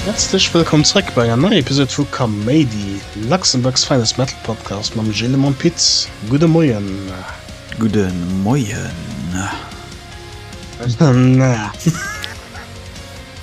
Häerzlech wëllkomm zréck bei enger neier Episode vu Kaméidi, Luxembourg's finest metal podcast mam Gilles a mam Pit. Gudde Moien. Gudde Moien.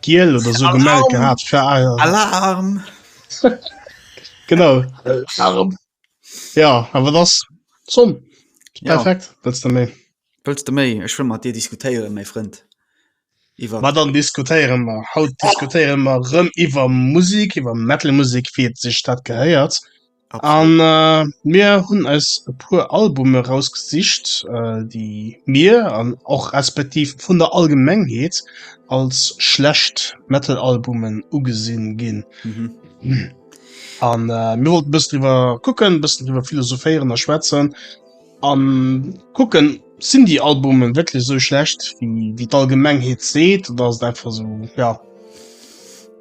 Giel oder so gemellt gehabt für Alarm! Alarm. genau. Alarm. Ja, aber das zum perfekt ja. willst du méi? Willst du méi? Ech will mat dir diskutéieren, méi Frënd. Iwer Ma dann diskutéieren wir haut diskutéieren wir rëm iwwer Musik, iwwer Metal Musik, wie et sech dat gehéiert. An mir hunn eis e puer Albume rausgesicht, déi mir an och respektiv vun der Allgemengheet als schlecht Metal-Albumen ugesinn ginn. An mir wollten e bëssen driwwer kucken, e bëssen driwwer philosophéieren a schwätzen an kucken, sinn déi Albumen wierklech esou schlecht wéi d'Allgemengheet seet oder ass et einfach esou, jo.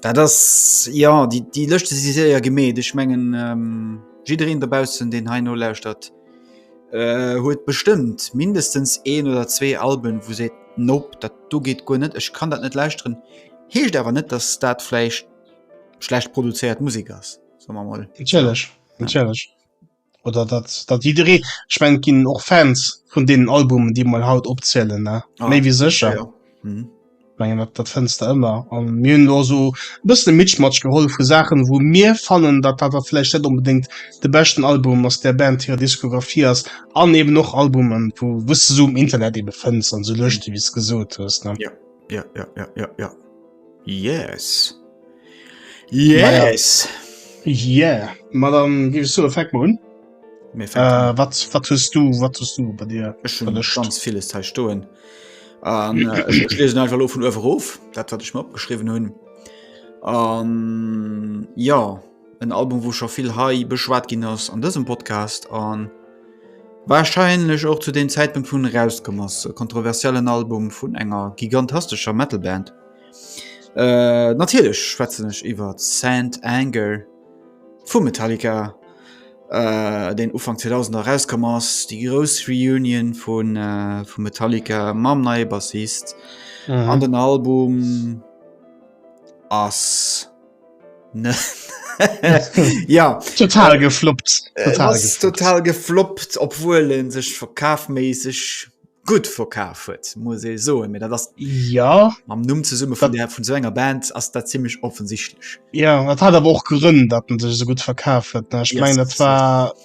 Da das ja die die löschte sie se ja gemet ich mengen ähm, jiin derbausen den Heino lauschtert huet äh, bestimmt mindestens een oder zwee Alben wo se nope dat du geht go net ich kann dat net lausren heescht aber net dass dat fleisch schlecht produziert Musik ass so mal natürlich, natürlich. oder dat dat jidderee ech mein ginn och Fans vun deenen Albumen déi mal haut opzielen ne Ah, méi wéi sécher ja, ja. Mhm. Ich mengen dat dat fënns de ëmmer an mir hunn lo so e bëssen e Mitschmatsch geholl vu Saachen wou mir fannen dat dat dat vläicht net onbedéngt de beschten Album aus der Band hirer Diskografie ass an eben och Albumen wou wou s de so um Internet ebe fënns an so Lëschte wéi s gesot hues ne Ja, ja, ja, ja, ja. Yes! Yes! Yeah! Ma dann ginn ech soe fänk mol un. Mir fänken an. Äh, wat, wat hues du, wat hues du bei dir? Ech hunn Verlëscht. ganz villes hei stoen. An äh, ech, ech liesen einfach lo vun uewe rof, dat wat ech mir opgeschriwwen hunn. An ja. En Album wou scho vill hei beschwat ginn ass an dësem Podcast an warscheinlech och zu den Zäitpunkt vun erauskom ass. E kontroversiellen Album vun enger gigantastescher Metalband. Äh, natierlech schwätzen ech iwwer Saint Anger vu Metallica, äh, deen Ufank 2000 erauskomm ass, déi grouss Reunion vun vu Metallica mam neie Bassist an den Album ass... ja total gefloppt äh, total, äh, gefloppt. total gefloppt obwohl en sech verkaafmäßig gut verkaaf huet muss e so mir dat das ja am Numm ze summe von der vun so enger Band ass dat ziemlich offensichtlich ja dat hat aber och gerënn dat en sech so gut verkaaf huet ich yes, mein dat war yes.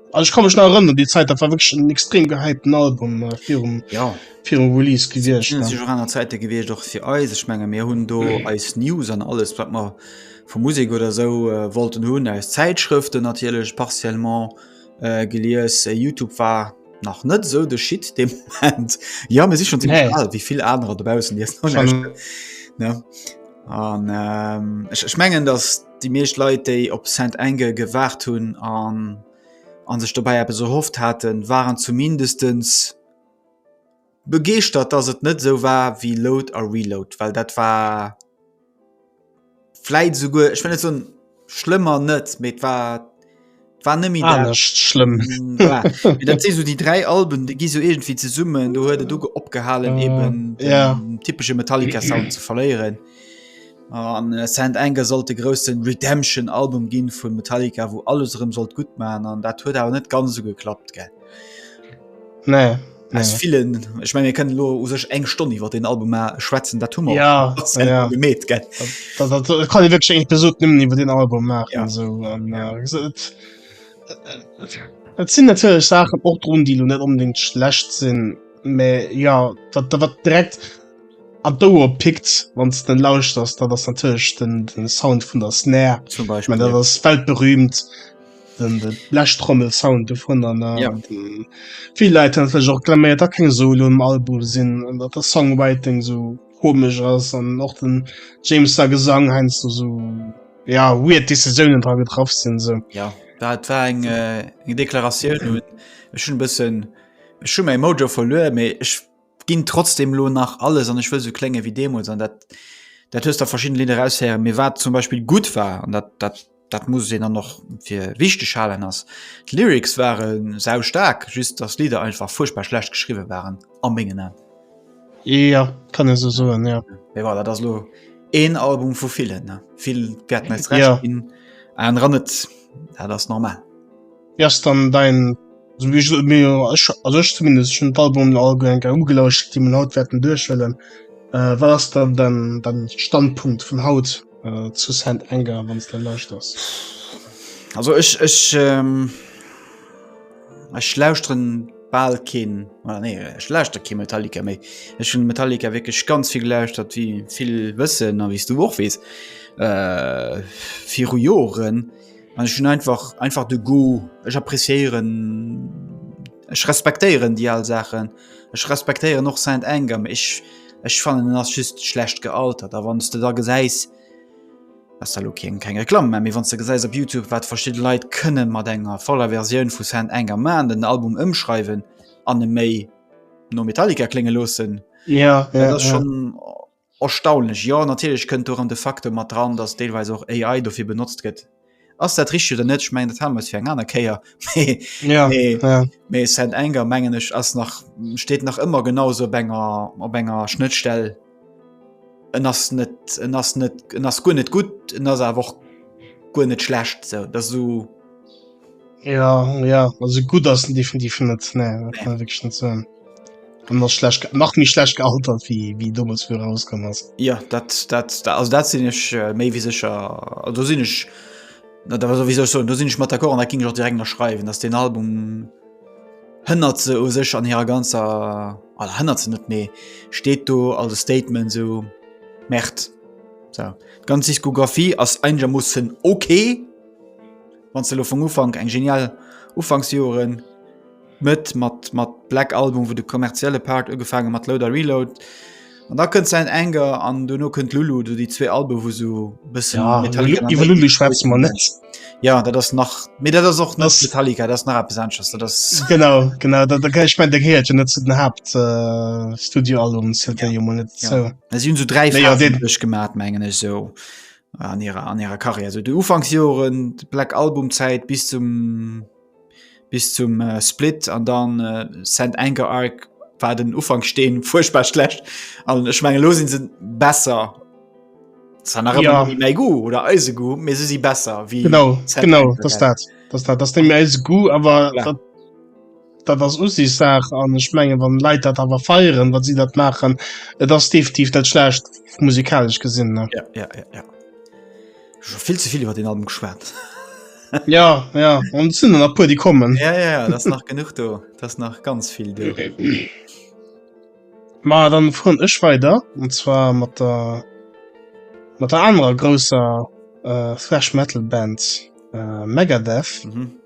Also ich kann mich noch erinnern an die Zeit, das war wirklich ein extrem gehypten Album äh, für, um, ja. für um Release gewesen. Das war an der Zeit gewesen, doch für uns. Ich meine, wir haben da mhm. als News und alles, was wir von Musik oder so äh, wollten haben, als Zeitschriften natürlich partiell äh, gelesen. YouTube war nach net so de Schiet dem Moment. Ja me si schon ziemlich nee. alt, wie viel andere dobausen die an ähm, ich, ich mengen dass Déi meescht Leit, déi op Saint Anger gewaart hunn an an sech dobäi eppes erhofft haten, waren zumindestens begeeschtert, dass et net esou war wéi Load a Reload, well dat war vläit esouguer, ech wëll net soen schlëmmer net, mee et war war nëmi anescht schlëmm dat si so déi dräi Alben de gi so egentfir ze summen do huet du go opgehalen uh, eben ja typesche Metallica Sound ze verléieren an äh, Sand enger sollt de großen Redemption Album ginn vun Metallica wo alles rëm sollt gut man an dat huet awer net ganz so geklappt ge nee, nee. vielen ich mein, können lo us sech eng Stonne iwwer den Album schwätzen dat Hummer ja, ja. gemet kann besuchten iwwer den Album machen ja. so, und, ja, äh, gesagt, äh, äh, sind natürlich Sachen och run die du net unbedingt schlecht sinn me ja dat da wat direkt an do pickt wann es den lauscht das da das natürlich den, den Sound vun der Snare zum Beispiel ich mein, das ja. Welt berühmt. den de läscht trommel sound du von an ja. viel leid hatch auch klammert da kein solo im album sinn an dat der songwriting so komisch ass an noch den james da gesang heinst du so ja wie decisionen dran getraf sinn se ja dat war eng äh, eng deklaration hun schon bisssen schon mein mojo verlö me ich ginn trotzdem lo nach alles an ech wëll sou klénge wéi deemools an dat dat hues der verschidden Lidder raushéieren, mee wat zum Beispill gutt war an dat dat dat muss een dann och fir wichteg halen ass d'Lyrics ware sau staark, just dass d'Lidder einfach fuerchtbar schlecht geschriwwe waren a mengen An. Jo, kann ee sou soen, jo. Mee voilà, dat ass lo een Album vu villen, vill wäerten eis Recht ginn, anerer net, dat ass normal. Wéi ass dann dein also wéi gesot mir ech also ech zumindest schon d'Album all eng Kéier ugelauscht déi man haut wäerten duerchhëllen äh, wat ass dann dein dein Standpunkt vun haut äh, zu Saint Anger wann s de lauschters? Also ech ech ähm, ech lauschteren bal keen oder nee ech lauschter kee Metallica méi ech hun Metallica wécklech ganz vill gelauschtert wie vill wëssen a wies du och wees äh, viru Joren An ech hunn einfach einfach de Goût. Ech appréciéieren, ech respektéieren déi al Saachen. Ech respektéieren och Saint Anger, mee ech ech fannen en ass just schlecht gealtert. A wann s de da gesäis, ass da lo keng keng Reklamm, mä mee wann s de gesäis op Youtube wat verschidde Leit kënne mat enger voller Versioun vu Saint Anger maachen, den Album ëmschreiwen an e méi no Metallica klénge loossen, dat ass schonn... Erstaunlech, jo, natierlech kënnt do erëm de Facteur mat dran, datt deelweis och AI dofir benotzt gëtt. Ass dat richteg oder net? Ech mengen dat hale mer eis fir eng aner Kéier. Mee, ja, mee, ja. mee Saint Anger mengen ech ass nach steet nach ëmmer genau sou op enger op enger Schnëttstell. En ass net en ass net en ass guer net gutt, en ass awer och guer net schlecht. Sou dat esou. Ja ja also gutt ass en definitiv net nee, dat kann ich wirklich net soen. An ass schlecht ge- nach méi schlecht gealtert wie wie dommels wéi rauskomm ass. Ja dat dat da- also dat sinn ech äh, méi wéi sécher also do sinn ech na da also, wéi soll ech soen do sinn ech mat d'accord an dat ging ech och direkt ënnerschreiwen datt den Album hënnert se u sech an hirer ganzer oder hënnert se net mee steet do als e Statement sou Merde so d'ganz Diskografie ass einigermoossen ok Wanns de lo vum Ufank eng genial Ufanksjoeren, Mëtt mat mat Black Album, wou de kommerzielle Part ugefaange mat Load a Reload, an da kënnt Saint Anger an duerno kënnt Lulu, do déi zwee Alben, wou sou bëssen ja, Metallica an iwwer Lulu schwätze mer net. Ja, dat ass nach, mee dat ass och net Metallica, dat ass nach eppes anesches, dat ass. Genau, genau, dat dat, ech menn dat gehéiert jo net zu den Haupt Studioalbums, dat gehéiert jo mol net dozou. Si hunn sou dräi Phasen duerchgemaat, mengen ech sou. an ihrer an ihrer Karriere so die Ufangsjoren Black Album Zeit bis zum bis zum äh, Split an dann äh, Saint Anger Arc war den Ufang stehen furchtbar schlecht an ich meine los sind sind besser ja. méi go oder eise go mé se si besser wie genau genau das dat das dat das dem eis go awer Dat ass Usichtssaach an ech mengen, wann Leit dat awer feieren, wat si dat maachen, et ass definitiv net schlecht musikalesch gesinn. Ja, ja, ja, ja. vill zevill iwwer den Album geschwert. ja ja an sinn nach puer die kommen. Ja, ja, ja, das nach genug do, das nach ganz vill do. Ma dann fueren ech weider und zwar mat der mat der anerer grousser äh, Thrash Metal Band äh, Megadeth. Mhm.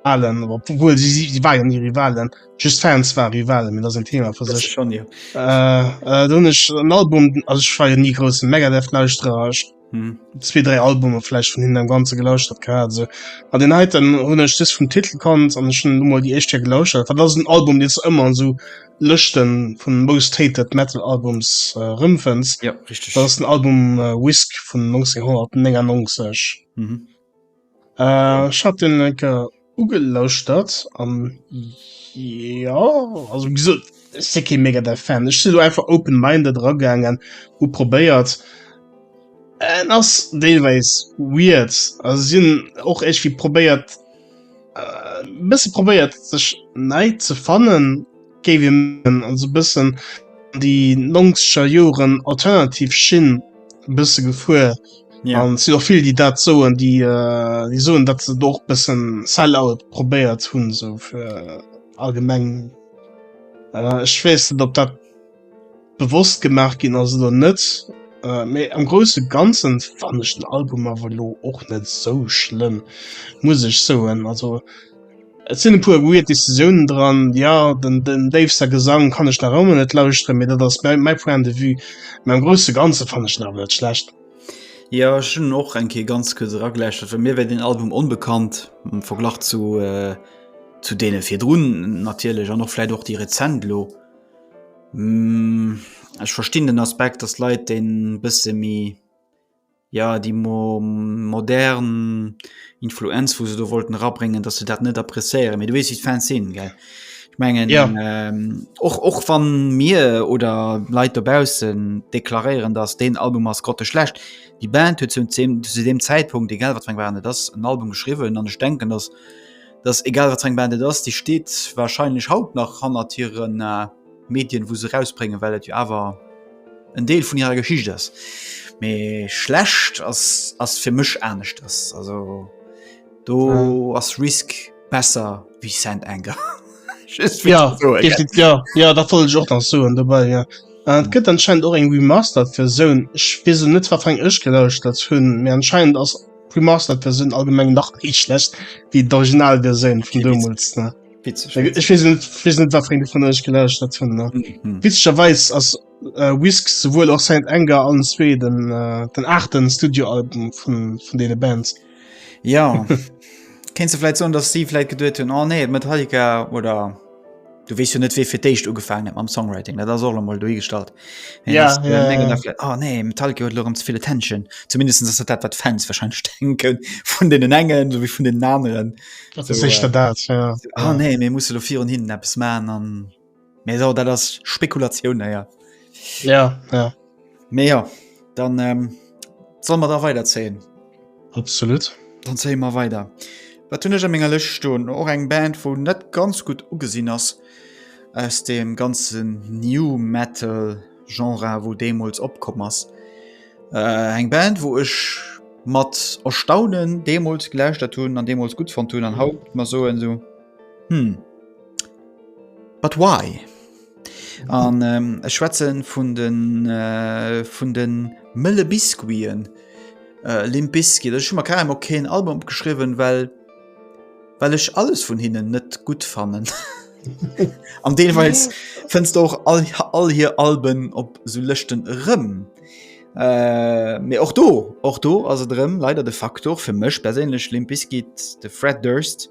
Rivalen, obwohl sie, sie, sie waren ja nie Rivalen, just Fans waren Rivalen, mir das ein Thema für sich. Schon, ja. äh, äh, dann ist ein Album, also ich war ja nie großen Megadeth-Lauschterer, ich hm. zwee dräi Albume vläicht vun hinnen am ganze gelauschert gehabt also an den heiten hun ech just vum Titel kannt an schon mal die echt hier gelauschert wat das ein Album den ëmmer an so Lëschten vun most hated metal Albums äh, rëmfënns ja richtig das ist ein Album äh, Whisk vun 1999 mhm. Ech hat den eng Kéier ugelauschtert an jo, also wéi gesot, ech si kee mega däi Fan. Ech si elo einfach open-minded eragaangen, hu probéiert. En ass deelweis weird, also si hunn och iergendwéi probéiert, e bësse probéiert sech nei ze fannen. géif ee mengen, also e bëssen an déi nongzeger Joren alternativ Schinn e bësse gefuer. Ja. An si och vill déi dat soen, déi äh, déi soen, dat se och bëssen Sellout probéiert hunn, sou fir allgemeng. Äh, ech weess net, ob dat bewosst gemaach ginn ass oder net méi am grouse ganzen wann ech den Album awer lo och net sou schlëmm muss ech soen also et sinn e puer weird Decisiounen dran ja den den déifster Gesang kann ech nach ëmmer net lauschteren mee dat ass mäi mäi point de vue mee am grouse ganze fannen ech en awer net schlecht. Jo ech hunn en och eng Kéier ganz kuerz erageläuschtert, well mir war den Album onbekannt am Verglach zu zu deene virdrun natierlech an och vläit och déi rezent elo. Ech verstinn den Aspekt, datt Leit déi e bësse méi, jo déi modern Influenz, wou se do wollten erabréngen, datt se dat net appréciéieren. Mee du weess, wéi d'Fans sinn, gell? Ech mengen, och wann mir oder Leit dobaussen deklaréieren, datt deen Album ass grotteschlecht, déi Band huet zu deem Zäitpunkt, egal wat fir eng Band et ass, en Album geschriwwen an ech denken, datt. dass egal wat eng Band et ass, déi steet wahrscheinlech haut nach hannert hiren äh, Medien, wou se rausbréngen, well et jo awer en Deel vun hirer Geschicht ass. Mee schlecht ass ass fir mech anescht ass. Also do ja. ass Risk besser wie Sand Anger. ja, so, ja. ja, ja dat wollte ich och nach so dabei ja. Äh, et gëtt anscheinend och eng Remaster fir Soun. Ech weess net wat eng ech gelauscht dat hunn, mir anscheinend ass Remastered-Versioun allgemeng nach méi schlecht wéi d'Originalversioun vun deemools. Ne? Witzig. Äh, Ich weiß nicht, ich weiß nicht, was für eine von euch gelöscht hat. Von, ne? Mhm. Witzigerweise ist äh, Whisk sowohl auch Saint Anger an zwei den, äh, den achten Studioalbum von, von den Bands. Ja. Kennst du vielleicht so, dass sie vielleicht gedacht haben, oh nee, Metallica oder Du wees jo net wéi fir d'éischt ugefaangen am Songwriting dat ass och mol dohi gestallt ja, äh, ja, ja. Nach, oh, ah, nee Metallica huet lorem viele Tension zumindest ass dat wat Fans wahrscheinlich denken vun den engen so wie vun den naen so, äh, dat ja. oh, nee mir muss lo vir un hin Apps man an mé so dat ass Spekulatiun ja ja, ja. Mee jo, dann solle mer da weiderzéien. Absolut. Dann zéie mer weider. Wat hunn ech a menger Lëscht stoen? Och eng Band, wou net ganz gutt ugesinn ass aus dem ganzen New Metal Genre, wou deemools opkomm ass. Eng Band, wou ech mat Erstaunen deemools gelauschtert hunn an deemools gutt fonnt hunn an haut mer soen esou, Hm, but why? An ech schwätze vun de vun de mëlle Biscuiten, Limp Bizkit. Ech hu mer kaer emol keen Album opgeschriwwen, well well ech alles vun hinnen net gutt fannen. An deelweis fënns de och all all hir Alben op esou Lëschten erëm. Mee och do och do ass et erëm leider de Faktor fir mech perséinlech Limp Bizkit, de Fred Durst.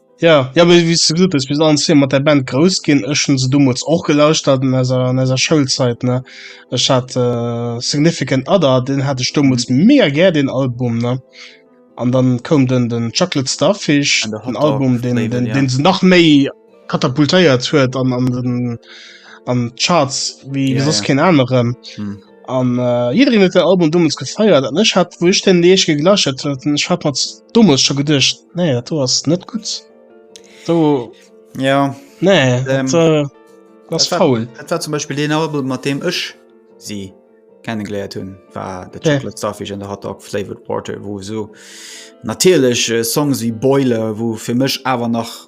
Ja ja wéi wéi s de gesot hues, mir sinn all zwee mat där Band grouss ginn. Ech hunn se deemools och gelauschtert an eiser an eiser Schoulzeit, ne? Ech hat Significant Other, deen hat ech deemools mega gär deen Album, ne? An dann koum den den Chocolate Starfish, en Album deen deen deen se nach méi katapultéiert huet an an den an d'Charts wéi wéi soss keen aneren. An äh, jiddereen huet den Album dommels gefeiert an ech hat wou ech den Deeg geglaschert huet ech hat mat dommels scho gedëcht nee dat du ass net gut do ja nee ähm, dat, äh, das war, faul dat war zum Beispiel den Album mat dem ech si kennengeleiert hunn war de Chocolate Starfish an der Hot Dog Flavored Porter wo so natierlech äh, Songs wie Boiler wou fir mech awer nach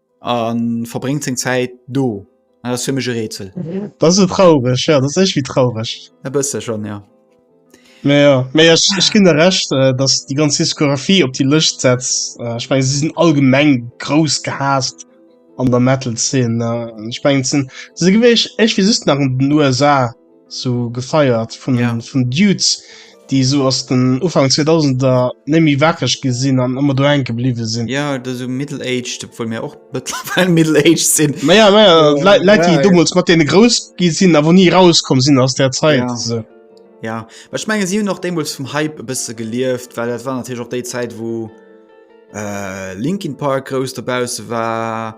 an verbréngt seng Zäit do. Dat ass fir mech e Rätsel. Dat ass traureg, ja, dat ass éichwi traureg. E bësse schonn, ja. Mee jo, mee ech, ech ginn der Recht, datt déi ganz Diskografie op déi Lëscht setz. Ech mengen, si sinn allgemeng grouss gehaasst an der Metal-Zeen. Ech mengen, se sinn, se si gewiescht éichwéi just nach an den USA. sou gefeiert vun ja. vun Dudes, déi sou ass den Ufang 2000er nemmi wackeg gesinn an ëmmer do enke bliwe sinn. Ja dat so Middle Age vu mir och Middle Age sinn. Maja ja, ja, oh, Leit ja, déi dummels mat dee grouss gi sinn, awer nie rauskom sinn aus der Zeit. Ja. So. Ja Ech menge si noch demuls vum Hype bësse gelieft, well dat war natürlich och déi Zäit wo äh, Linkin Park grouss derbause war.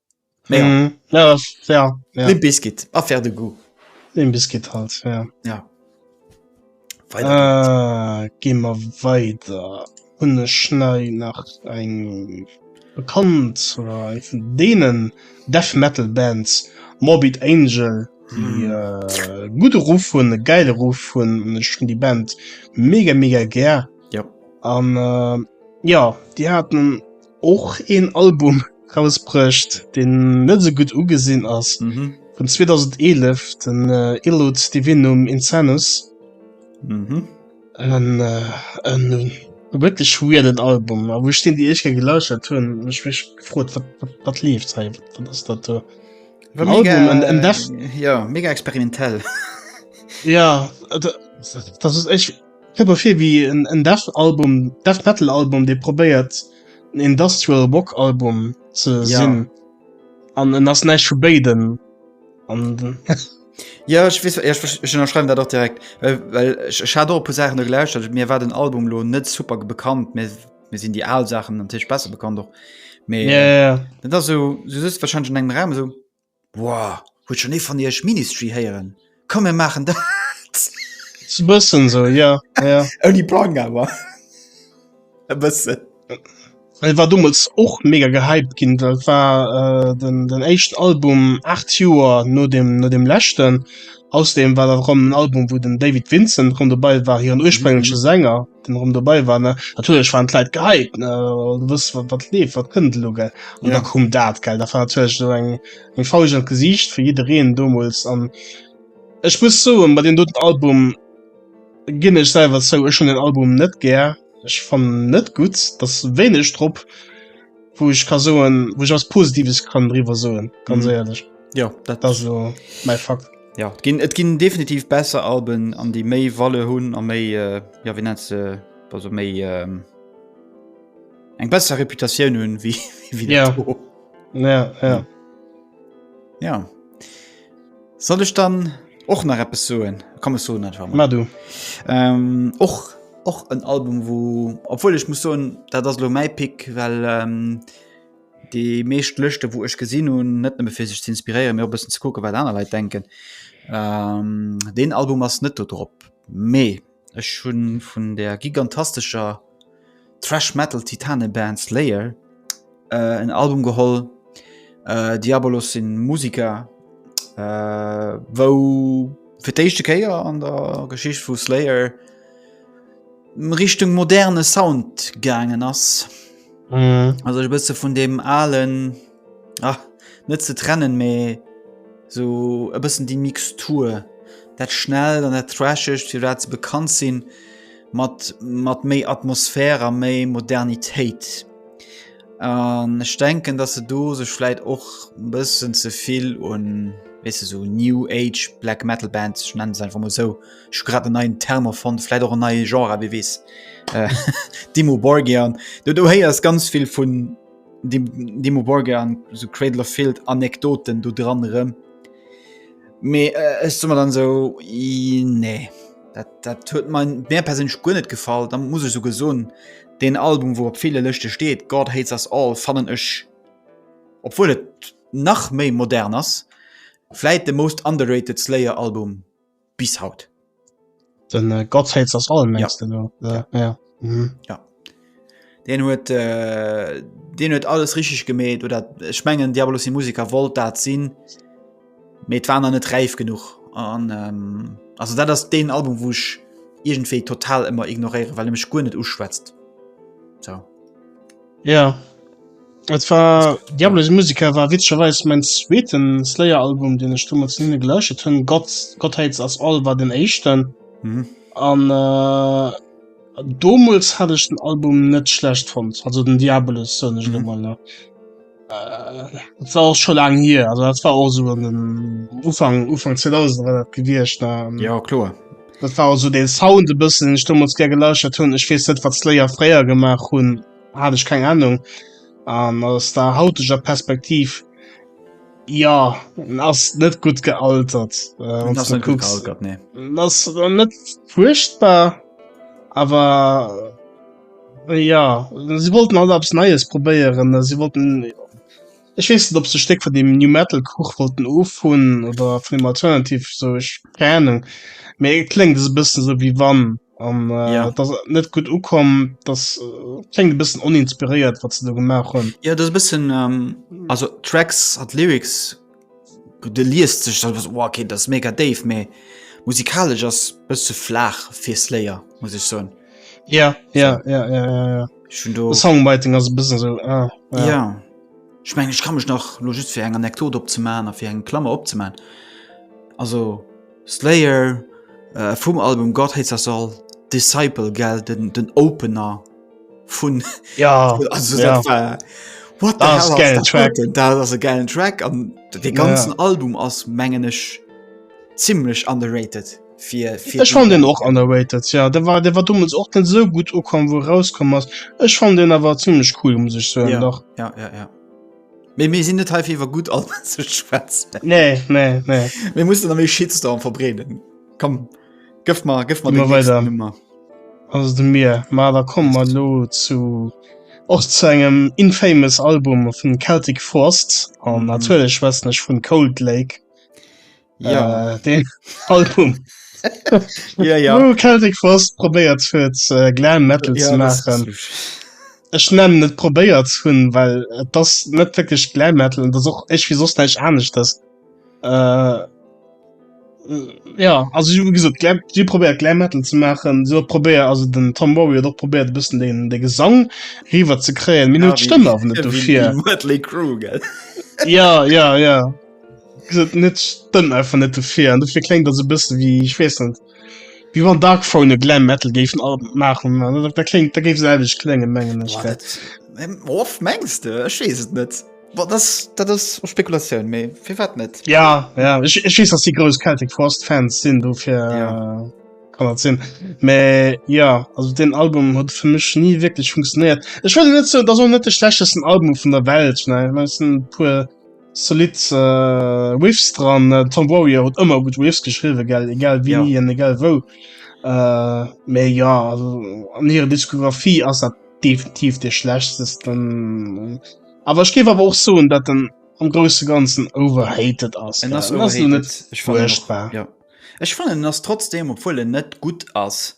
Biskit affaire de goût den Biskit halt ja. Ja. Ah, Ge mer weiter hun e schnei nach eng bekannt oder eng vun denen death metal bands morbid angel die mm. äh, gute ruf hun e geile ruf hun schon die band mega mega ger ja an äh, ja die hatten och een Album rausbruecht deen net esou gutt ugesinn ass vun 2011 den Illud Divinum Insanus wierklech weirden Album a wou ech deen déi éischt kéier gelauschtert hunn hunn ech mech gefrot wat leeft hei, wat ass dat do fir en Album, en en Death. Jo mega experimentell. Jo dat ass ech. Kënnt mer vir wéi en Death Album, Death Metal Album dee probéiert en Industrial Rock Album ze sinn, an en ass näischt vu béiden an. Jo ech weess, ech ënnerschreiwen dat och direkt, well ech hat och e puer Saachen do gelauschtert, mir war den Album elo net super bekannt, mir sinn déi al Saachen natierlech besser bekannt och, mee dat ass esou, du sëtzt warscheinlech an engem Raum esou. Woah, huet schon ee van iech Ministry héieren? Komm mir maachen dat! S e bëssen sou, jo, jo. Ouni Plang awer e bëssen. Et war domols och mega gehypt ginn, well et war den éischten Album 8 Joer no dem, no dem leschten. Ausserdeem war dat och en Album, wou den David Vincent rëm dobei war, hiren urspréngleche Sänger, den rëm dobei war. Ne? Natierlech waren d'Leit gehypt, ne? du wëss wat, wat leeft, wat kënnt elo gell. An ja. da kom dat gell, da war natierlech so eng eng Fausch an Gesiicht fir jiddereen domols an Ech muss soen, bei den doten Album ginn ech selwer zou, ech hunn den Album net gär, ech fannen net gutt, dass wéineg drop. wou ech ka soen wo ich was positives kann drüber soen ganz mhm. ehrlich ja dat das so mein fakt ja gin et gin definitiv besser alben an die méi walle hunn a méi äh, ja wie net ze also méi ähm, eng besser reputation hunn wie wie ja. Ja, ja. Ja soll ech dann och nach Appppe soen kom so net Ma du ähm, och ähm, och en Album wo obwohl ich muss so dat das lo mei Pick well ähm, die meescht Lëchte wo ech gesinn hun net fir sech ze inspirieren mir bessen ze kucke wat aner Leiit denken ähm, den Album ass net do drop mee. Ech hunn vun der gigantastescher Thrash-Metal-Titaneband Slayer en Album geholl. Diabolos si Museker, wou fir d'éischte Kéier an der Geschicht vu Slayer Richtung moderne Sound gaangen ass. Also e bësse vun deem alen. Ah, net ze trennen, mee so e bëssen déi Mixtur. Dat schnell an dat trashegt, fir dat ze bekannt sinn, mat, mat méi Atmosphär a méi Modernitéit. An ech denken, dass se do sech vläit och e bëssen ze vill un, weess de, sou New Age Black Metal Bands, ech nenne se einfach mol esou, ech hu grad en neien Term erfonnt, vläit och en neie Genre, wie weess, Dimmu Borgir. Do, do héiers ganz vill vun. Dimo Borger an so Cradle of Field Anekdoten do dran rëm. Mee äh, ech summer dann so i, nee, dat, dat huet mein Bär persinnch guer net gefall. Da muss ech so gesonn den Album, wou op ville Lëschte steet, God hates us all, fannen ech obwuel et nach méi modern ass, vläit de most underrated Slayer Album. bis haut den äh, Gott hältst aus allem ja. du ja. Äh, ja. Mhm. ja. den huet äh, den huet alles richtig gemäht oder schmengen Diabolos die Musiker wollt dat sinn mit waren an net reif genug an ähm, also dat das den Album wusch irgendwie total immer ignorieren weil er mich gut net uschwätzt so Ja. Et war Diabolos Musica war witzegerweis mäin zweeten Slayer-Album, deen ech domat hinne geläuschtet hunn. Gott, Gott Hates Us All war den éischten. Mhm. An äh, domols hat ech den Album net schlecht fand. Also den Diabolos so nicht mhm. mal. Äh, das war auch schon lang hier. Also das war auch so in den Ufang, Ufang 2000 war das gewircht. Ja, klar. Dat war also den Sound e bëssen, den ech deemools gär gelauschtert hunn. Ech weess net, wat Slayer fréier gemaach hunn, hat ech keng Ahnung. An aus der hauteger Perspektiv, jo, en ass net gutt gealtert. Äh, wann du kucks, gealtert, nee. ass net furchtbar, awer äh, ja, si wollten alt abs Neies probéieren, si wollten. Ech weess net ob se e Stéck vun deem New Metal Kuch wollten ofhunn oder vun deem Alternative esou, ech keng Ahnung, mee et kléngt esou e bëssen esou wéi wann an yeah. dass et net gutt ukomm, dass kléngt e bëssen oninspiréiert wat se do gemaach hunn. Ja dat e bëssen ähm, also Tracks an Lyrics de liest sech dat was, oh, okay dat ass mega déif, mee musikalesch ass bësse flaach fir Slayer muss ech soen. Ja ja ja ja ja, ja. Songwriting ass e bëssen esou, ah, ja. ja. Ech mengen, ech ka mech nach lo just fir eng Anekdot opzemaachen a fir eng Klammer opzemaachen. Also Slayer äh, vum Album God Hates Us All, Disciple, gell, den, den Opener vun. Ja, also, ja. Dat war, what the hell, geilen Track. Dat ass e geilen Track an de ganzen ja. Album ass, mengen ech, zimlech underrated. Fir, fir ech fan den och underweitet ja der war der war dummels och net so gut ukom wo rauskom ass ech fan den awer ziemlich cool muss ich so ja. nach ja ja ja méi mir sinn net heiwwer gut an ze schwätzen nee nee nee mir muss am méi schietst an verbreden kom gëff mal gëff mal weiter immer also du mir ma da kom mal lo zu och zu engem infamous album vun celtic forst an mhm. natürlich schwätzen ech vun cold lake Ja äh, den Album. ja, ja. Oh, Celtic Frost probéiert fir äh, Glam Metal ja, ze machen. Ech nennen net probéiert hunn, well äh, das net wirklich Glam Metal und das och ech wie sos neich anecht das. Äh, ja also wie gesagt, Glam, die probiert Glam Metal zu machen so probär also den Tom Warrior doch probiert bisschen den der Gesang river zu krähen Minute ja, Stimme auf nicht so viel ja ja ja Geet net stëmmt einfach net dofir an dofir klengt dat se bësse wie ich wees net wie wann Dark Phone Glam Metal géifen all machen da klingt da géif selwech klengen mengen of mengste schees et net wat das dat ass Spekulatioun méi fir wat net ja ja ich ich wees ass die grouss Celtic Frost Fans sinn dofir ja kann dat sinn mä ja also den Album huet fir mech nie wirklich funktioniert ech wëll net soen dass och net de schlechtesten Album vun der Welt ne meinszen puer Zolidd Riffs dran. Äh, Tom Warrior huet ëmmer gut Riffs geschriwwe gell, egal wie ja. en egal wou. Äh, méi ja an hire Diskografie ass dat definitiv de schlechtesten. Awer ech géif awer och soen, dat den am grouse ganzen overhated ass. En ass net furchtbar. Ja. Ech fannen ass trotzdem, obwuel en net gutt ass.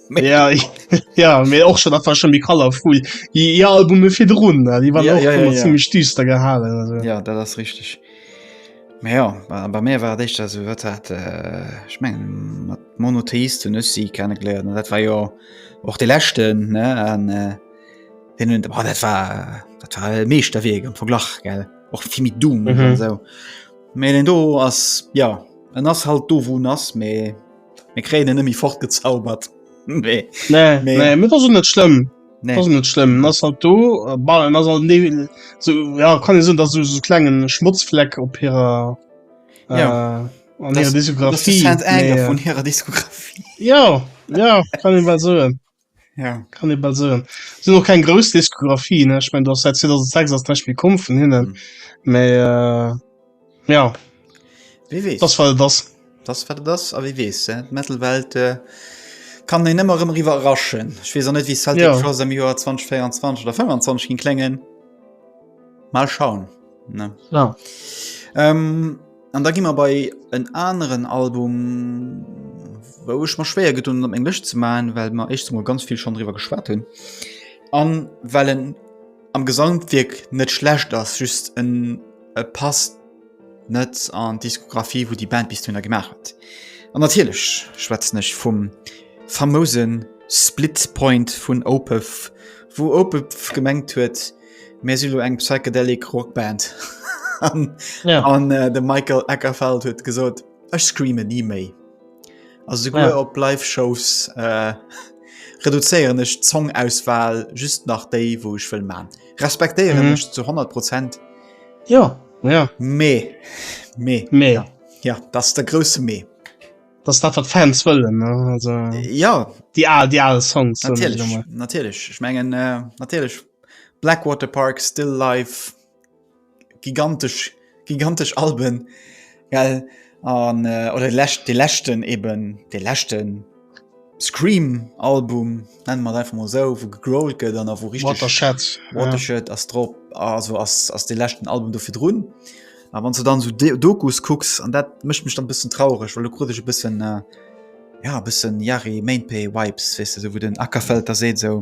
ja, ja mir och schon einfach schon die color fu die albume fir run die waren ja, ja, ja, ja. stüster gehalen also. ja da das richtig ja bei mir war dich das wird hat äh, ich mein, monotheist und sie kennengelernt und dat war ja och de lächten äh, den hun war dat war dat war e meescht der wege am verglach gell och vi mit du mhm. so me den do ass ja en ass halt do wo nass me Mir kréien en ëmmi fortgezaubert. Nee. Nee, Mee- nee, mit ass net schlimm. Nee. Das ist net schlimm ass halt do äh, ball ass halt ne so ja kann sinn dat so so klengen Schmutzfleck op hirer äh, Ja. an Das- hirer Das ist Diskografie Cent Anger Nee, vun hirer Diskografie. äh, ja ja kann ich mal so Ja. Kann ee bal soen. Si hunn och keng grouss Diskografie, ne? Ech mengen, do ass säit 2006 ass näischt méi komm vun hinnen. Mee ja, Wie weess. dat ass, wat et ass. Dat ass, wat et ass. A wie weess, eh? D'Metal-Welt kann een ëmmer erëm eriwwer erraschen. Ech weess och net, wéi Celtic Frost am Joer 2024 oder 2025 géing kléngen. Mal schauen, ne? Genau. An da gi mer bei en aneren Album, wou ech mer schwéier gedun hunn op meng Lëscht ze maachen, well mer éischtens emol ganz vill schonn driwwer geschwat hunn an well en am Gesamtwierk net schlecht ass, just en e passt net an d'Diskographie wou déi Band bis dohinner gemaach huet. An natierlech schwätzen ech vum famouse Split Point vun Opeth, wou Opeth gemengt huet, Mir si lo eng psychedelic Rockband an ja. an äh, de Michael Eckerfeld huet gesot Ech screame nie méi. Also ja. op Live-Shows äh, reduzéieren ech Zongauswahl just nach déi wo ech will man. Respektéieren mhm. zu 100 Prozent. Ja ja mee mee mee ja. ja das der große mee. Das dat wat Fans wëllen also, ja die, die alle Songs natürlich, natürlich. ich mengen äh, natürlich Blackwater Park, Still Life, gigantesch, gigantesch Alben, well an oder déi lescht, dee leschten eben, dee leschten Scream Album, nenne mer et einfach mol esou, wou gegrowlt gëtt an a wou richteg... Watershed. Watershed ass drop, also ass, ass dee leschten Album do virdrun. A wann s de dann esou de Dokus kucks, an dat mécht mech dann e bëssen traureg, well elo krut ech e bëssen, ja e bëssen Yari Main Pay Vibes, weess de, esou wou den Akerfelter seet esou,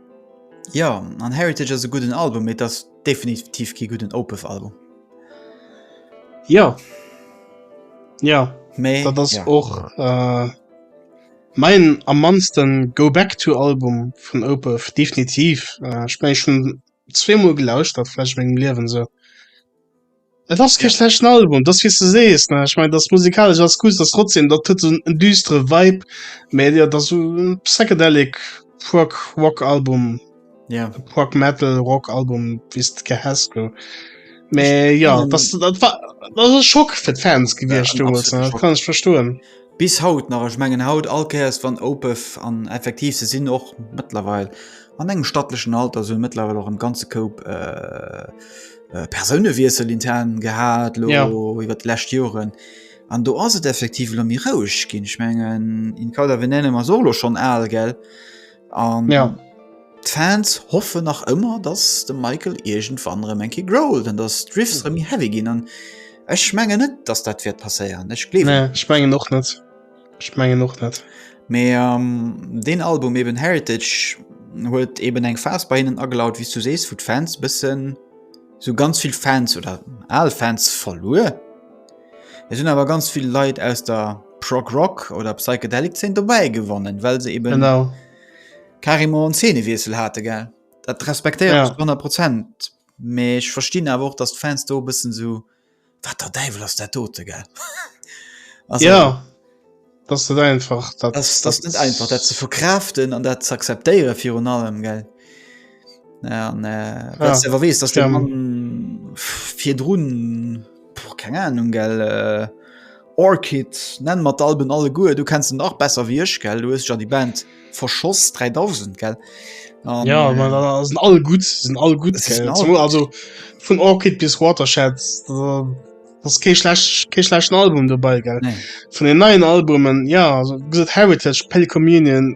Ja, an Heritage ass e gudden Album, mee ass definitiv kee gudden Opeth-Album. Ja. Ja. Mee, dat ass ja. och äh, mein am mannsten Go Back to Album vun Opeth, definitiv. Äh, Ech meng, ech hunn zweemol gelauschtert, vläch an mengem Liewen esou. Et ass kee schlechten Album, dass wéi s du sees, ne? Ech mein, dass musikalesch ass cool, dass trotzdem dat huet en, en düstere Vibe, mä jo, dass so en psychedelic Prog Rock Album, Ja. Prog Metal Rock Album, wéi s de gär häss, lo. Mä ja, Ähm. dass du dat war, dat ass e Schock fir d'Fans Ja, gewiescht en deemools, absoluten ne? Schock. Kann ech verstoen. Bis haut nach, ech mengen haut all Kéiers wann Opeth an effektiv se sinn och mëttlerweil an engem stattlechen Alter, se hunn mëttlerweil och am ganze Koup äh, äh, Persounewiesel intern gehabt lo, ja. über die letzten Jahren. Und du hast es effektiv lo mir roueg ginn. Ich meine, in Kader wir nennen wir solo schon al gell. Und ja. die Fans hoffen nach immer, dass der Michael irgendwann rem enke growlt an dass Drifts rem heavy ginn an ech menge net, dass dat wird passieren. Ech gleef nee, ich menge noch net. Ech mengen och net. Mee deen Album eben Heritage huet eben eng Phas bei hinnen agelaut, wéi s du sees, wou d'Fans bëssen, sou ganz vill Fans oder al Fans verluer. Et hunn awer ganz vill Leit aus der Prog-Rock oder Psychedelic-Zeen dobäi gewonnen, well se eben genau carrément en Zeenewiessel hate. Gell? Dat respektéieren ech ja. zu 100 Prozent. Mee ech verstinn awer och, dass d'Fans do e bëssen sou. Wat der Däiwel ass dat dote gell? Also, ja, dat net einfach dat, das, das net einfach dat ze verkraaften an dat ze akzeptéiere virun allem gell. Ja, an, äh, ja, sewer wees dat fir drun keng Ahnung gell. Äh, Orchid, nenn mer d'Alben alleguer, du kenns se nach besser wéi ech, gell? Du hues dech an déi Band verschoss, 3000, gell? An, ja, äh, man, äh, sind all gut, sind all gut. Sind all gut. Also vun Orchid bis Watershed, äh, das ke schlecht ke schlechten Album dobei ge nee. vun den neien Albumen ja Heritage Pell Communion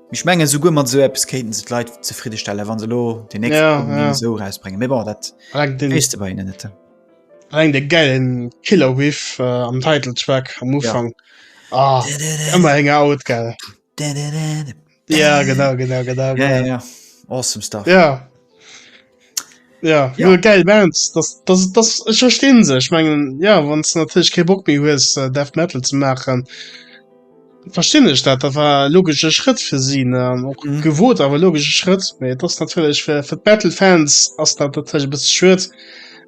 Ech menge souguer mat sou Apps kéinten se d'Leit zefridde stelle wann se lo de nächste Ja, Album ja. sou rausbréngen. Mee bon dat Reng den, weess de bei hinnen net. reng de gäilen Killer Whiff äh, am Title Track am Ufang. Ah, ëmmer eng Out, gell? Ja, genau, genau, genau, Ja, genau. ja. Awesome stuff. Ja. Ja, ja. geil Bands das, das, das, ich verstehen se ich mengen ja wann es natürlich ke Bock mir hues äh, Death Metal zu machen verstehen ich dat da war logische Schritt für sie ne? auch mhm. gewohnt aber logische Schritt nee, das natürlich für, für Battle Fans as dat natürlich bis schwer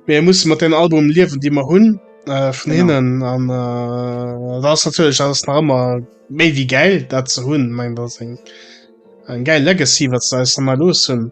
mir muss man den Album liewen die man hun äh, von genau. hinnen an äh, das natürlich alles immer me wie geil dazu hun mein das ein geil Legacy was da ist mal los hun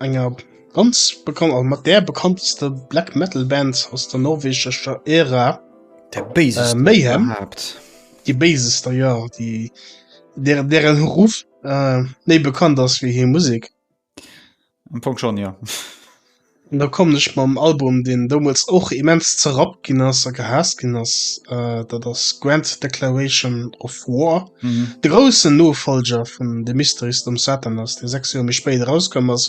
enger ganz bekannt a mat där bekannteste Black Metal Band aus der norwegescher Ära, der Béisester äh, Mayhem. Überhaupt. Die Béisester, ja, die der deren Ruff äh, méi bekannt ass wéi hir Musek. Am Fong schon, ja. An da kommen ech mam Album, deen doumools och immens zerrappt ginn ass a gehaasst ginn ass, äh, dat ass Grand Declaration of War. De groussen Nofolger vun de Mysteries dem Satan ass, dee 6 Joer méi spéit erauskomm ass.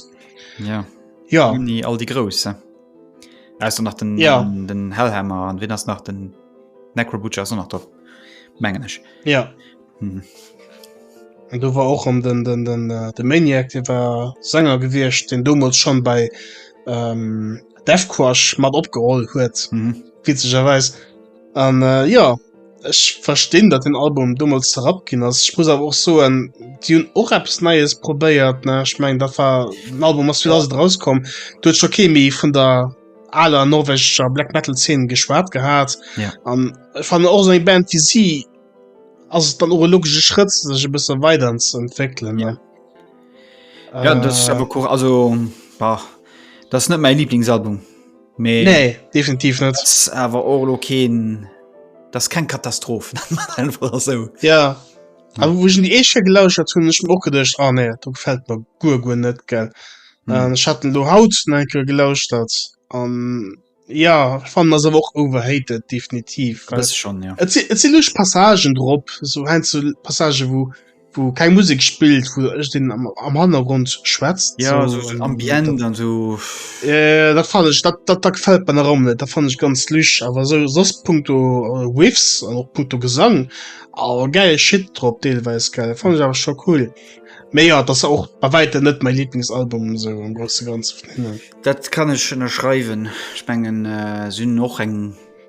Ja. Ja. Uni all déi Grouss. Aus nach den, ja. den, den Hellhammer an wien ass nach den Necrobutcher ass nach drop. Mengen ech. Ja. Hm. Und du war och an den den den äh, de Maniac de war Sänger gewircht den domols schon bei ähm, Defquash mat opgeholl huet mhm. witzegerweis an äh, ja Ech verstinn, datt den Album domols zerrappt ginn ass. Ech muss awer och soen, déi hunn och eppes Neies probéiert, ne? Ech mengen, dat war den Album ass 2000 rauskomm, do huet scho kee méi vun der aler norwegescher Black Metal Zeen geschwat gehat. Ja. An ech fannen och esou eng Band wéi si ass et dann och e logesche Schrëtt, sech e bësse weider ze entwéckelen, ne? Ja, dat ass Äh, awer cool. Also, bah, dat ass net mäi Lieblingsalbum. nee. nee definitiv net awer orlo keen das kein Katastroph so. ja aber wo sind eh schon gelauschert hun ich och gedcht oh, ah, nee du gefällt mir gu gu net gell hm. ähm, ich hatte lo haut enkel gelauscht hat an ähm, ja fand das auch overhated definitiv das schon ja. passagen drop so ein zu passage wo Wou keng Musik spillt, wou ech den am, am Hannergrund schwätzt. Ja, so, so ambient dat, an so. Äh, dat fan ech, dat, dat, dat gefällt mir rom net, dat fan ech ganz lüch. Awer so sos punkto äh, Whiffs an och punkto Gesang, awer geil Shit drop, deelweis geil, fan ech awer scho cool. Mee ja, dat ass och bei wäitem net mäi Lieblingsalbum so am grosse Ganze vun hinnen. Dat kann ech ënnerschreiwen. Ech mengen, äh, si hunn och eng.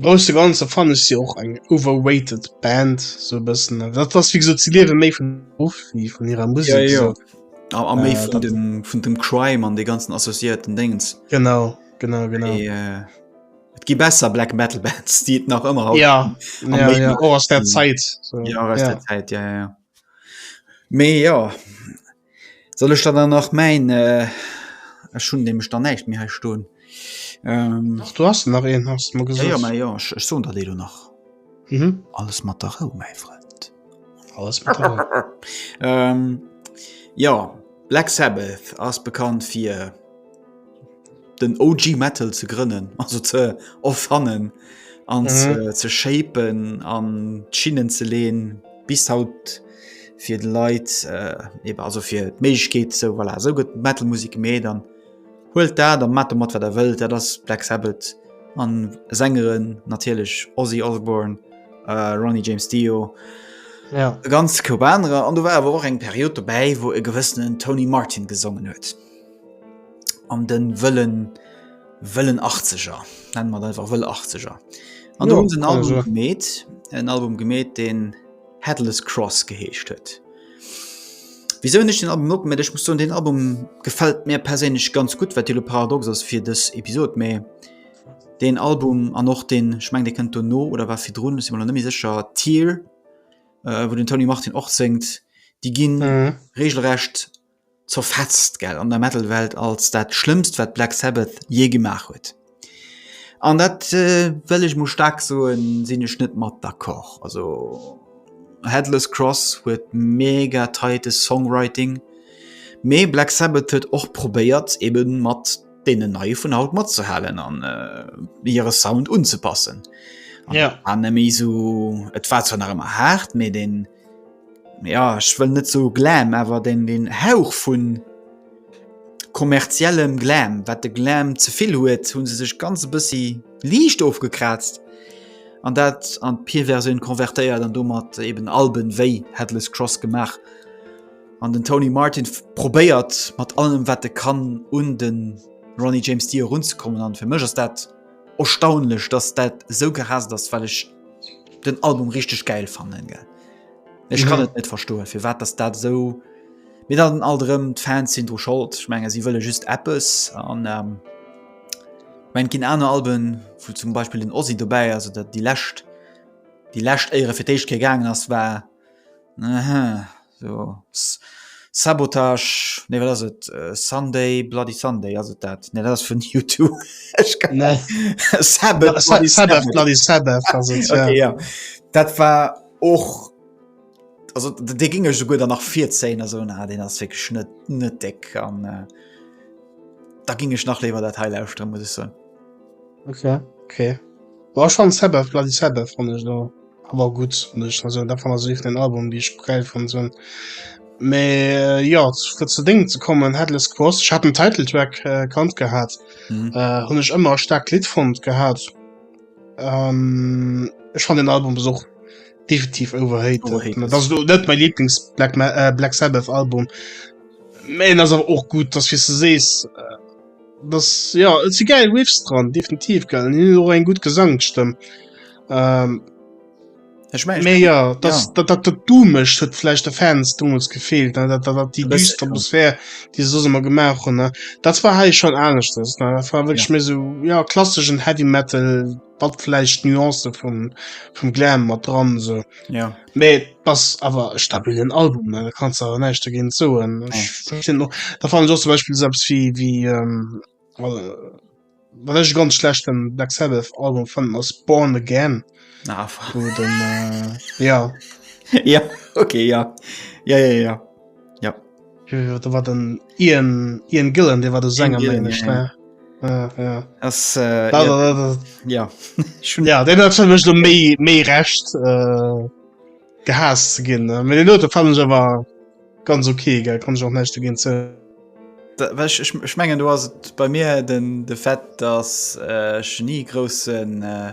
Grousse ganze fanne si och eng overrated Band so bëssen dat ass wie ze liewe méi vun of wie vun hirer Musik ja, ja. So. A, a méi äh, vun, dem, vun dem Crime an de ganzen associierten Dengens genau genau genau Et äh, gi besser Black Metal Bands die et nach ëmmer ja, ja, ja. Oh, aus der Zeit so. ja, aus ja. der Zeit ja, ja. méi ja Soll ech der dann nach mäin, ech hunn nämlech dann näischt méi hei stoen. Dach do ass nach een, haas de mer gesot. Jo, jo, mä jo, ech soen der déi elo nach. Alles mat der Rou, mäi Frënd. Alles mat der Rou. Jo, Black Sabbath ass bekannt fir. den OG Metal ze grënnen, also ze offannen an mhm. ze shapen an Schinnen ze lehen bis haut fir de Leiit äh, also fir d' Meich geht so voilà, so gëtt Metalmusik méi dann huelt dat der mat mat wat der wëlt, dat ass Black Sabbath an Sängeren natierlech Ozzy Osborne, äh, Ronnie James Dio. Ja. ganz Kubaner an du war awer och eng Period dobäi, wou e gewëssenen Tony Martin gesongen huet. an den wëllen wëllen 80er nennen man einfach wëll 80er an ja, den Album gemet en Album gemet den Headless Cross geheescht huet wieso nicht den Album op ich muss so den Album gefällt mir persinnlich ganz gut wat die Paradox ass fir des Episode méi den Album an noch den schmeng de kënnt no oder war fir run nimi secher Tier äh, wo den Tony Martin och zingt die ginn mhm. regelrecht zerfetzt gell an der Metal Welt als dat schlëmmst wat Black Sabbath jee gemaach huet. An dat äh, wëll ech mol staark soen, sinn ech net mat d'accord. Also Headless Cross huet mega tightes Songwriting, mee Black Sabbath huet och probéiert eben mat deenen neie vun haut matzehalen an äh, hire Sound unzepassen. Ja. An méi sou et war zwar nach ëmmer haart, mee den ja ech wëll net so Glam, awer den den Hauch vun kommerziellem Glam, wat de Glam ze vill huet, hu se sech ganz e bëssi liicht ofgekraazt an dat an d'Pir-Versioun konvertéiert an domat eben Alben wéi Headless Cross gemaach. An den Tony Martin probéiert mat allem wat e kann un de Ronnie James Dio erunzekommen an fir mech ass dat, Erstaunlech dass dat sou gehasst ass, well ech den Album richteg gäil fannen gell. Ech kann et net verstoen firwat dass dat esou, mee dann alt erëm d'Fans sinn dru Schold, ech menge si wëlle just eppes an ech mengen et ginn aner Alben wou zum Beispill den Ozzy dobäi ass oder déi lescht déi lescht Éiere fir d'éischt Kéier gaangen ass war So, Sabotage, nee wat ass et, Sunday Bloody Sunday ass et dat? Nee dat ass vun U2. Ech kann net. Nee. Sabbath Bloody Sabbath. Sabbath Bloody Sabbath ass et, ja. Okay, ja. Dat war och, also dee géing ech souguer dann nach virzéien a soen, ah deen ass wierklech net, net déck an da géing ech nach léiwer dat hei lauschteren, muss ech soen. Okay, okay. Bon ech fannen Sabbath Bloody Sabbath fannen ech elo. Awer gutt, nech also dat wann also iwwert en Album déi ech gäil fonnt hunn. Mee jo fir zu Déngen ze kommen Headless Cross ech hat den Titeltrack äh, kannt gehat mhm. äh, hunn ech ëmmer staark Lied fonnt gehat. Ähm, ech fan den Album besuch definitiv overhate dat du net mein lieblings black Ma äh, black Sabbath album men as och gut dass wie du sees äh, Das, ja, et si geil Riffs dran, definitiv geil. An hin och eng gut Gesangstëmm. Ähm, ich mein, méi ja, dat dat dat dat du mecht huet flecht der Fans dummels gefehlt ne? dat dat die düster Atmosphär die so immer gemaach hun ne dat war hei schon aneschtes war wirklich ja. mir so ja klasseschen heavy metal wat vielleicht Nuance vum vum Glam mat dran so ja me pass awer stabilen Album da kannst awer näicht dogéint soen ja. da fan sos zum Beispiel selbst wie wie ähm, äh, wat ech ganz schlechten Black Sabbath Album fan ass Born again ah, wo den äh, ja ja okay ja ja ja ja wat den Ian, Ian Gillen dee war de Sänger méi mech ne ja den hat mech do méi méi recht äh, gehaas ze ginn mé den Note fan war ganz okay ge kann och nächte ginn ze schmengen du hast bei mir den de Fett dass äh, genie großen äh,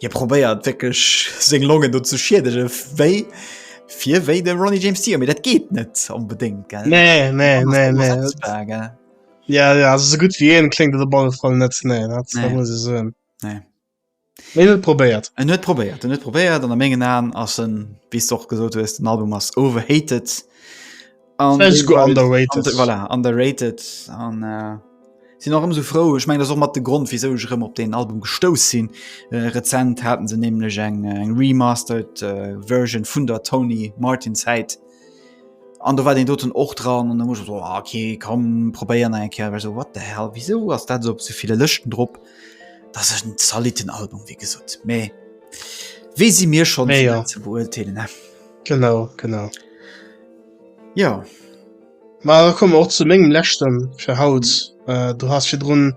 Hie probéiert wéckelch seng Longen do ze schiedege wéi fir wéi de Ronnie James Dio, mir dat geet net onbedéngt ge Nee nee nee nee Ja ja se gutt wie en kling de Ball voll net nee dat muss se soen. Nee net probéiert en net probéiert net probéiert an der mengen an ass en bis och gesot hues den Album ass overhated. underrated an äh, sinn noch ëm so frou ech meng mat de Grund wieso ech rëm op den Album gestouss sinn äh, rezent hatten se nämlech eng äh, eng remastered äh, Version vun der Tony Martin Zeit an du war den doten och dran an muss so, ah, okay kom probéieren eng Ker so wat der hell wieso ass dat op so viele Lëchten drop dat ech den zaliten Album wie gesot méi wie si mir schon nee, ja. ze beurteilen ne? genau genau. Jo, ma da komme mer och zu mengem leschte fir haut. Du has virdrun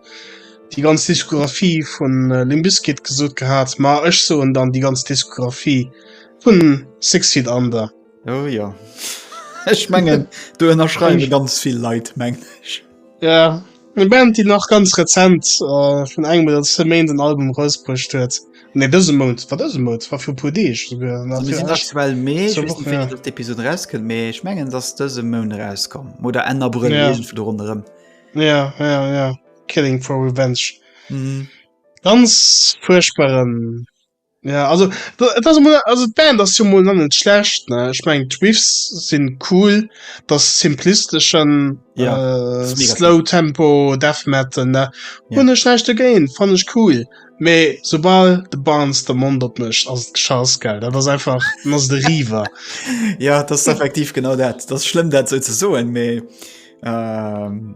déi ganz Diskografie vu Limp Bizkit gesot gehat, ma ech soen dann déi ganz Diskografie vun Six Feet Under. Oh jo, ech mengen do ënnerschreiwe ganz vill Leit, mengen ech. Ja, eng Band déi nach ganz rezent vun engem oder zwee Méint en Album erausbruecht huet, nee dëse Mount, war dëse Mount, war viru e puer Deeg esouguer, Also mir sinn aktuell Mee, ech wëss net wéini dës Episod erauskënnt, mee ech mengen et ass dëse Mount erauskomm oder Enn Abrëll, iergendwou do ronderëm. Ja, ja, ja, Killing for Revenge, ganz fuerchtbaren. Ja, also, et ass mol, also d'Band ass jo mol nach net schlecht ne. Ech meng d'Riffs sinn cool, dat simplisteschen ja, äh, Slow Tempo Death Metal ne ja. hun schlecht dagéint fan ech cool. Mee sobal de Barnes de Mond op mech ass Chance gell dat ass einfach ass de River. ja das effektiv genau dat das schlimm dat se ze soen mee. Ähm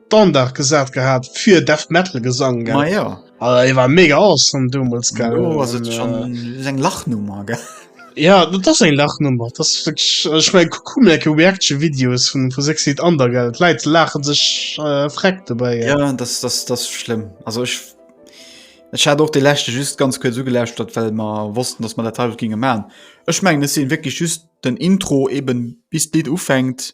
Standard gesat gehaat fir Death Metal Gesang gell. Ma ja. Alter, dee war mega awesome domols gell. Lo ass et schon äh, eng Lachnummer gell. Ja dat ass eng Lachnummer, dat ass wierklech also ech mengen kuck mol enke Reaction Videos vun vu Six Feet Under gell, d'Leit laachen sech äh, freck dobäi gell. Ja dat ass, dat ass, dat ass schlëmm. Also ech ech hat och dee leschte just ganz kuerz ugelauschtert well mer wossten dass mer dat haut ginge man. Ech mengen et sinn wierklech just den Intro eben bis d'Lidd ufänkt.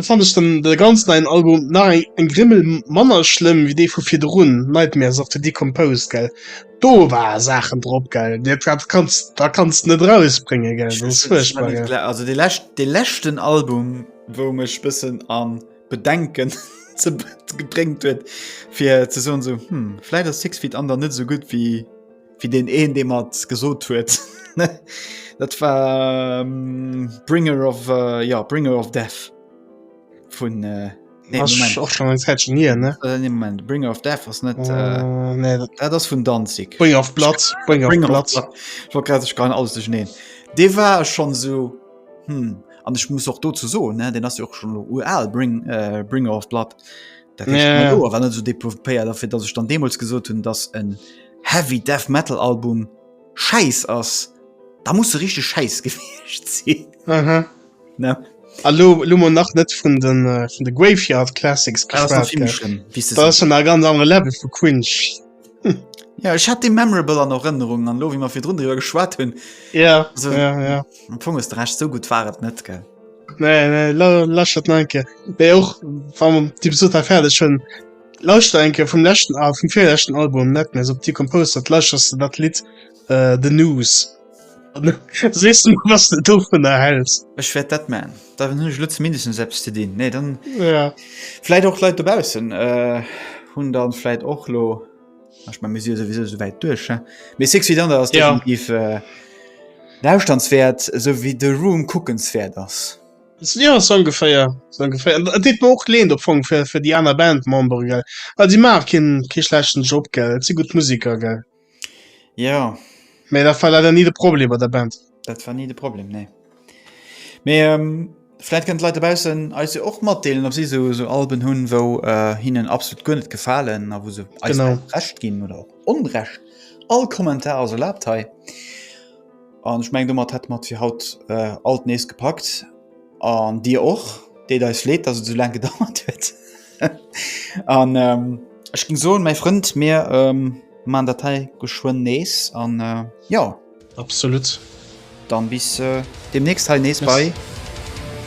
Fannt ech dann de ganz neien Album nach eng eng Grimmel manner schlëmm wéi dee vu virdrun, Nightmares of the Decomposed gell, do war Saachen drop gell, dat dat kanns da kanns de net erausbréngen gell, dat ass fuerchtbar gell. Also dee lescht dee leschten Album wou mech bëssen a Bedenken ze gebréngt huet fir ze soen esou hm vläit ass Six Feet Under net esou gutt wéi Wie den een de mat gesot huet Dat war um, Bringer of uh, ja Bringer of Death vun uh, nee, och schon nie ne äh, nee, Moment Bringer of Death ass net uh, uh, nee, dat, dat ass vun danzig Bringer of Platz Bringer of Platz war grad sech kann alles neen Dee war schon so hm an ech muss och do ze so ne den ass jo och schon UL bring uh, Bringer of Blood dat yeah. war net so depopéiert dafir dat ech dann demos gesot hunn dass en Heavy Death Metal Album schäiss ass, da muss se richteg schäiss gewiescht sinn. Aha. Ne? A lo, lo mo nach net vun de äh, vun de Graveyard Classics Ah, ass nach geschwat. vill méi gell? schlëmm, wéi se Da ass sinn. schon a ganz andere Level vu Quinch. Ja, ech hat dee memorable an Erënnerung an lo wéi mer virdrun driwwer geschwat hunn, Ja, Also- ja, ja. am Fong hues de recht, sou gutt war et net, gell? Nee, nee, la, lass dat nach eng Kéier. Mee och, wann d'Episod da fäerdeg hunn, Lauschter eng Kéier vum leschten Al vum virleschten Album Nightmares op Decompose, dat lauschters de dat Lidd äh, The News. An da sees de mer, wat s de dovunner häls. Ech wäert dat man. Da hunn ech elo zumindestens eppes ze dinn. Nee, dann Ja. vläit och d'Leit dobaussen äh, hunn dann vläit och lo, ah, ech mein, mir si jo souwisou esou wäit duerch, he? Mee Six Feet Under ass Ja. definitiv äh, lauschternswäert, esou wéi The Room kuckenswäert ass. Ja sou ongeféier, sou ongeféier. An dat deet mer och Leed am Fong fir, fir déi aner Bandmembere gell, well si maache kee, kee schlechten Job gell, et si gutt Museker gell. Ja. Mee dat war leider ni de Problem bei der Band. Dat war ni de Problem, nee. Mee vläit kënnen d'Leit dobaussen eis jo och matdeelen, ob si sou, sou Alben hunn, wou hinnen absolut guer net gefalen a wou se eis recht ginn oder och onrecht. All Kommentar ass erlaabt hei. An ech meng domat hätte mer et fir haut äh, alt nees gepackt. An Dir och, deet eis leet, dass et so lang gedauert huet. an ähm, ech ging soen, mein Frënd, mir ähm, man dat hei geschwënn nees an äh, ja. Absolut. Dann bis äh, demnächst hei nees bei.